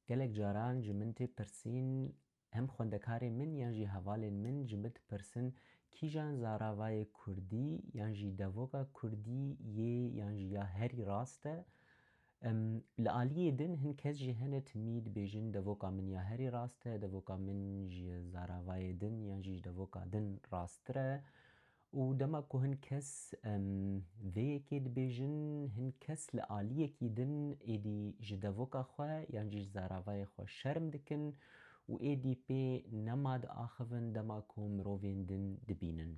Gelek caran ji min tê pirsîn, hem xwendekarên min yan jî hevalên min ji min dipirsin kîjan zaravayê kurdî yan jî devoka kurdî yê yan jî ya herî rast e. Li aliyê din hin kes jî hene timî dibêjin devoka min ya herî rast e, devoka min ji zaravayê din yan jî ji devoka din rasttir e Û dema ku hin kes vê yekê dibêjin, hin kes li aliyekî din êdî ji devoka xwe yan jî ji zaravayê xwe şerm dikin û êdî pê nema diaxivin dema ku mirovên din dibînin.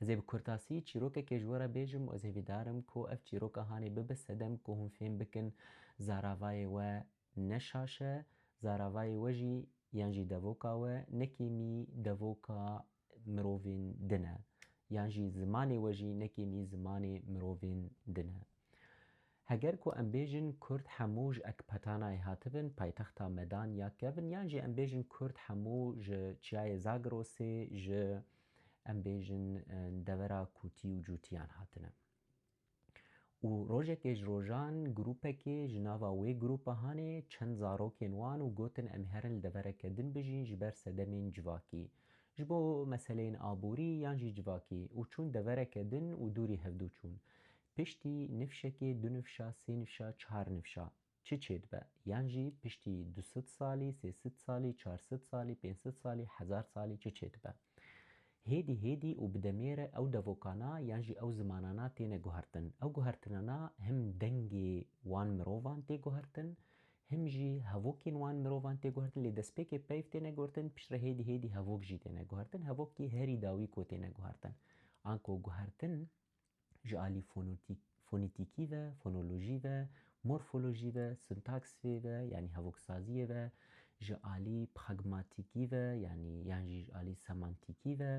Ez ê bi kurtasî çîrokekê ji we re bêjim û ez hêvîdar im ku ev çîroka hanê bibe sedem ku hûn fêm bikin zaravayê we ne şaş e, zaravayê we jî yan jî devoka we ne kêmî devoka mirovên din e yan jî zimanê we jî ne kêmî zimanê mirovên din e. Heger ku em bêjin Kurd hemû ji Ekpatanayê hatibin, paytexta Medan ya Kevin yan jî em bêjin Kurd hemû ji Çiyayê Zagrosê ji em bêjin devera Kûtî û Cûtiyan hatine. û rojekê ji rojan grûpekê ji nava wê grûpa hanê çend zarokên wan û gotin em herin li devereke din bijîn ji ber sedemên civakî, ji bo meseleyên aborî yan jî civakî û çûn devereke din û dûrî hevdû çûn. Piştî nifşekê, du nifşa, sê nifşa, çar nifşa. Çi çêdibe, yan jî piştî du sed salî, sê sed salî, çar sed salî, pênc sed salî, hezar salî çi çêdibe. Hêdî hêdî û bi demê re ew devokana yan jî ew zimanana têne guhertin. Ew guhertinana him dengê wan mirovan tê guhertin, him jî hevokên wan mirovan tê guhertin lê destpêkê peyv têne guhertin, pişt re hêdî hêdî hevok jî têne guhertin. Hevokî herî dawî ku têne guhertin. Anko guhertin Ji alî fonîtîkî ve, fonolojî ve, morfolojî ve, sintaksê ve yanî hevoksaziyê ve, ji alî pragmatîkî ve yanî yan jî ji alî semantîkî ve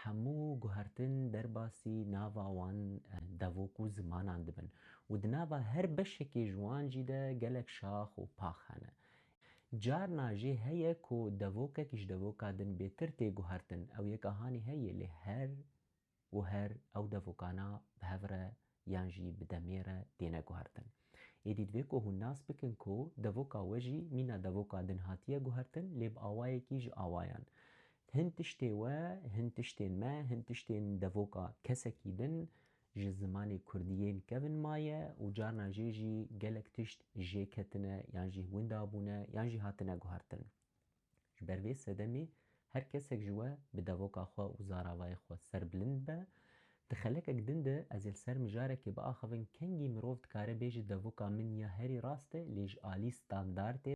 hemû guhertin derbasî nava wan devok û zimanan dibin û di nava her beşekê ji wan jî de gelek şax û pax hene. Carna jê heye ku devokek ji devoka din bêtir tê guhertin, ew yek ahanî heye lê her û her ew devokana bi hev re yan jî bi demê re têne guhertin. Êdî divê ku hûn nas bikin ku devoka we jî mîna devoka din hatiye guhertin lê bi awayekî ji awayan. Hin tiştê we, hin tiştên me, hin tiştên devoka kesekî din ji zimanê kurdî yên kevin maye û carna jê jî gelek tişt jê ketine yan jî winda bûne yan jî hatine guhertin. Ji ber vê sedemê her kesek ji we bi devoka xwe û zaravayê xwe ser bilind be. Di xelekek din de ez ê li ser mijarekê biaxivin kengî mirov dikare bêje devoka min ya herî rast e lê ji alî standard e,